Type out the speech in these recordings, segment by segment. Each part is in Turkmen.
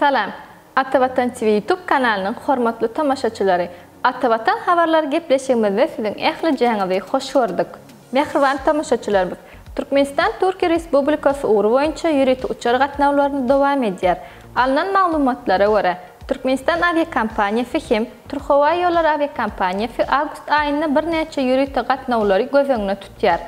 Salam! Ata Watan TV YouTube kanalynyň hormatly tomaşaçylary! Ata Watan habarlary gepleşigimizde siziň ählijaňyzy hoş gördük. Mähriban tomaşaçylarymyz! Türkmenistan Türkiýe Respublikasy ugry boýunça ýörite uçar gatnawlaryny dowam edýär. Alnan maglumatlara görä, Türkmenistan awiakompaniýasy hem Türkhowaýollar awiakompaniýasy awgust aýynda birnäçe ýörite gatnawlary göz öňüne tutýar.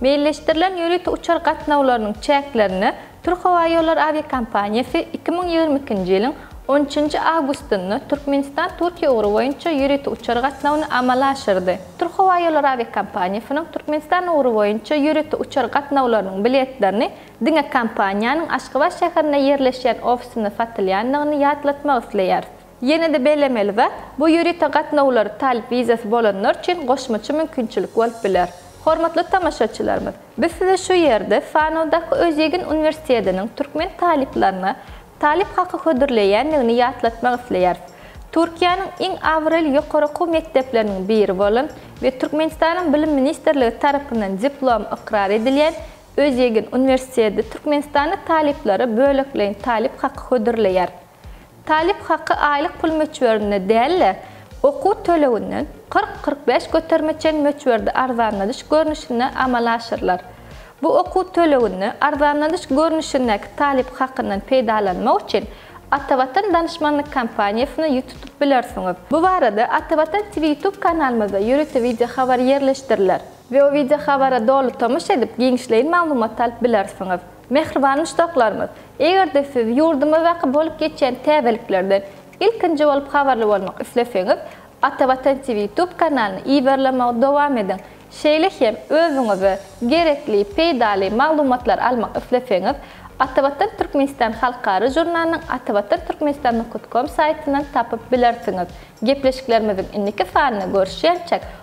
Meýilleşdirilen ýörite uçar gatnawlarynyň çäklerini Türkhowaýollar awiakompaniýasy iki müň ýigrimi ikinji ýylyň on üçünji awgustynda Türkmenistan-Türkiýe ugry boýunça ýörite uçar gatnawyny amala aşyrdy. Türkhowaýollar awiakompaniýasynyň Türkmenistan ugry boýunça ýörite uçar gatnawlarynyň biletlerini Diňe kompaniýanyň Aşgabat şäherinde ýerleşýän ofisinde satylýandygyny ýatlatmak isleýäris. Ýene-de bellemeli zat, bu ýörite gatnawlar talyp wizasy bolanlar üçin goşmaça mümkinçilik bolup biler. Hormatly tomaşaçylarymyz, biz size şu ýerde Fanowdaky Özýegin uniwersitetiniň türkmen talyplaryna talyp haky hödürleýändigini ýatlatmak isleýäris. Türkiýäniň iň abraýly ýokary okuw mekdepleriniň biri bolan we Türkmenistanyň Bilim ministrligi tarapyndan diplomy ykrar edilýän Özýegin uniwersiteti türkmenistanly talyplara bölekleýin talyp haky hödürleýär. Talyp haky aýlyk pul möçberinde däl-de, okuw töleginden kyrk-kyrk bäş göterime çen möçberde arzanladyş görnüşinde amala aşyrylar. Bu okuw töleginde arzanladyş görnüşindäki talyp hakyndan peýdalanmak üçin Atavatan Danyşmanlyk kompaniýasyna ýüz tutup bilersiňiz. Bu barada Atavatan TV ýutub kanalymyzda ýörite wideohabar ýerleşdiriler. Weo wideo habara doly tomaş edip giňişleýin maglumat alyp bilersiňiz. Mähriban muşdaklarymyz! Eger-de siz ýurdumyzdaky bolup geçýän täzeliklerden ilkinji bolup habarly bolmak isleseňiz, Ata Watan TV YouTube kanalyny iberlemegi dowam ediň. Şeýle hem özüňize gerekli, peýdaly maglumatlary almak isleseňiz, Ata Watan Türkmenistan halkara žurnalynyň atavatanturkmenistan nokut kom saýtyndan tapyp bilersiňiz. Gepleşiklerimiziň indiki sanyny görüşýänçäk